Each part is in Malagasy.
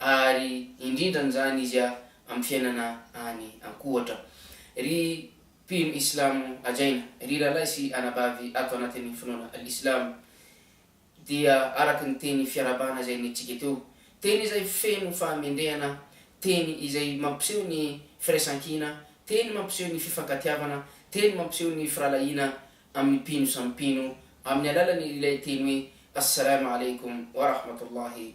ary indrindran'izany izy amin'ny fiainana any an-kohatra. Ry mpino islamo hajaina, ry rahalahy sy anabavy ato anatin'ny finoana islamo, dia araka ny teny fiarahabana izay nentintsika teo, teny izay feno fahamendrehana, teny izay mampiseho ny firaisankina, teny mampiseho ny fifankatiavana, teny mampiseho ny firahalahiana amin'ny mpino samy mpino, amin'ny alalan'ilay teny hoe As-Salaam Alaikum Wa Rahmatullahi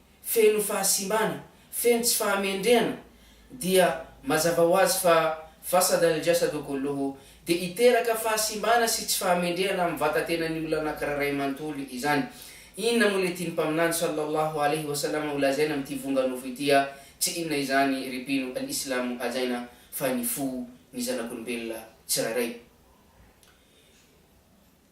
feno fahasimbana, feno tsy fahamendrehana, dia mazava ho azy fa fasada al jasadu kulluhu, dia hiteraka fahasimbana sy tsy fahamendrehana amin'ny vatatenan'ny olona anakiray iray manontolo izany. Inona moa ilay tian'ny Mpaminany sallallahu alaihi wa sallam holazaina amin'ity vonga nofo ity a? Tsy inona izany ry mpino al Islam hajaina fa ny fo ny zanak'olombelona tsirairay.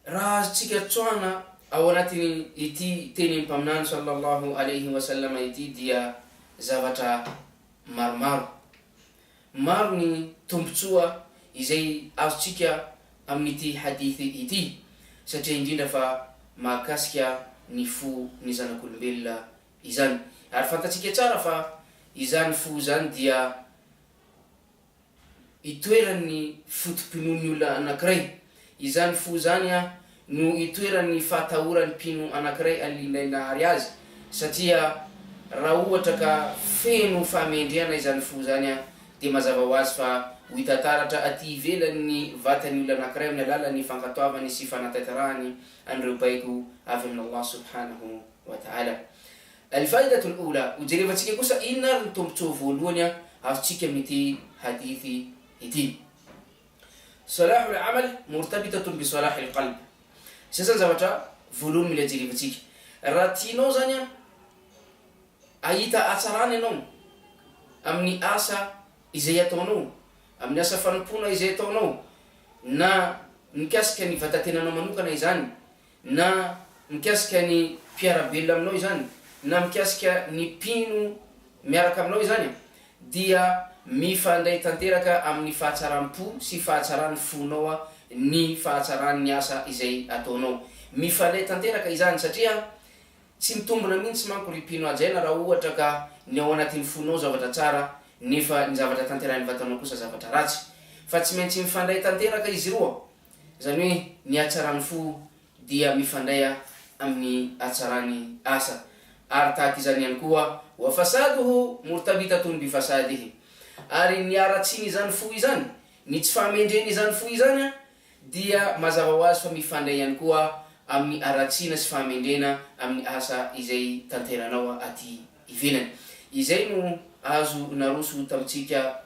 Raha azontsika tsoahina ao anatin'ity tenin'ny Mpaminany sallallahu alaihi wa sallam ity dia zavatra maromaro. Maro ny tombontsoa izay azontsika amin'ity hadith ity satria indrindra fa mahakasika ny fo ny zanak'olombelona izany. Ary fantatsika tsara fa izany fo izany dia. itoeran'ny foto-pinoan'ny olona anankiray. Izany fo izany no itoeran'ny fahatahoran'ny mpino anankiray an'ilay nahary azy, satria raha ohatra ka feno fahamendrehana izany fo izany, dia mazava ho azy fa ho hita taratra aty ivelan'ny vatan'ny olona anankiray amin'ny alalan'ny fankatoavany sy fanataitarahany an'ireo baiko avy amin'Allah subhanahu wa ta'ala. Al-Faidatul Oula, Hojerevantsika kosa inona ary ny tombontsoa voalohany azontsika amin'ity hadith ity. Salahul Amal murtabitatun bi Salahil Qalb, Sasan-javatra voalohany mila jerevantsika. Raha tianao izany hahita hatsarana ianao amin'ny asa izay ataonao, amin'ny asa fanompoana izay ataonao, na mikasika ny vatan-tenanao manokana izany, Na mikasika ny mpiara-belona aminao izany, na mikasika ny mpino miaraka aminao izany, dia mifandray tanteraka amin'ny fahatsaram-po sy fahatsaran'ny fonao ny fahatsaran'ny asa izay ataonao. Mifandray tanteraka izany, satria tsy mitombina mihitsy manko ry mpino hajaina raha ohatra ka ny ao anatin'ny fonao zavatra tsara nefa ny zavatra tanterahin'ny vatanao kosa zavatra ratsy. Fa tsy maintsy mifandray tanteraka izy roa Izany hoe ny hatsaran'ny fo dia mifandray amin'ny hatsaran'ny asa. Ary tahaka izany ihany koa, wa fasaduhu murtabitatun bi fasadihi, ary ny haratsin'izany fo izany, ny tsy fahamendren'izany fo izany dia mazava ho azy fa mifandray ihany koa amin'ny haratsiana sy fahamendrena amin'ny asa izay tanteranao aty ivelany. Izay no azo naroso tamintsika.